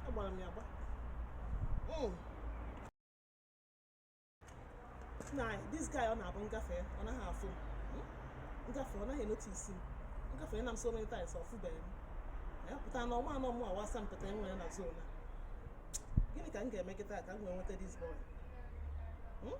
agbara m ya agba hmm. nna this guy ọ na-abụ m gafee ọ naghị afụ m hmm? m gafee ọ naghị enotisi m agafeena m so many times ọ fụbeghị m ya pụta na ọ maa na ọ mụ wụ asampete e nwere na zone a gịnị ka m ga-eme kịta ka m wee nweta this boy hmm?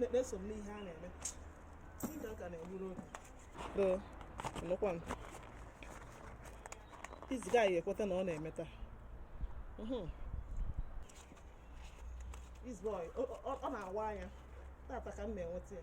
na-eso m n'ihe a na-eme Ndị ka na-egburu oge ee nụkwa m this guy ekweta na ọ na-eme taa This boy, ọ na-awa anya tata ka m ga-enweta ya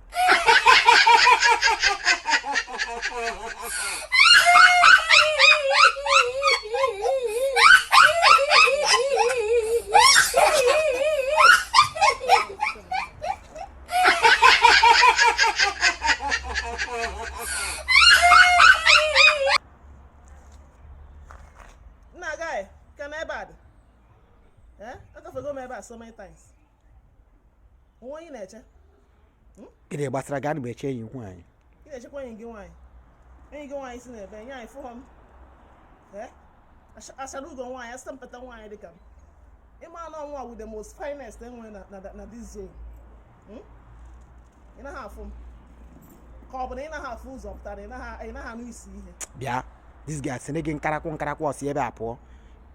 nna guy kee ebe a dị eh? agafego m ebe a so many times o nwe onye ị na-eche gịnị gbasara gị ana m eche enyi m nwaanyị ị na-echekwa enyi gị nwaanyị enyi gị nwaanyị si n'ebe nee anya fụ m Ee? Achara ugo nwaanyị asampete nwaanyị dịka m ị ma na ọ mụwa wụ the most finest e nwere na- na na this zone Hmm? ị naghị afụ m ka ọ bụ na ị naghị afụ ụzọ ọ pụta na ị naghị anụ isi ihe bịa this guy sị na gị nkarakwụ nkarakwụ si ebe a pụọ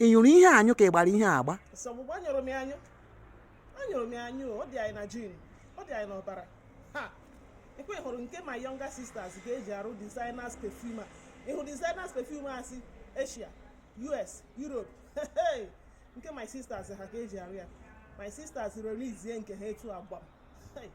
ị nyụrụ ihe anyụ ka ị gbara ihe agba nsogbu anyụrụ m ya anyụ anyụrụ m ya anyụ ọ dị anyị na gene ọ dị anyị n'ọbara ha ọkwa ahụrụ nke my younger sisters ka e ji arụ designers perfume a ị hụ designers perfume e si asia us europe nke my sisters ha ka e ji arụ ya my sisters releasie nke ha etu a gwam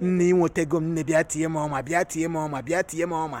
nne inwetego m nne bịa tie m ọma bịa tie m ọma bịa tie m ọma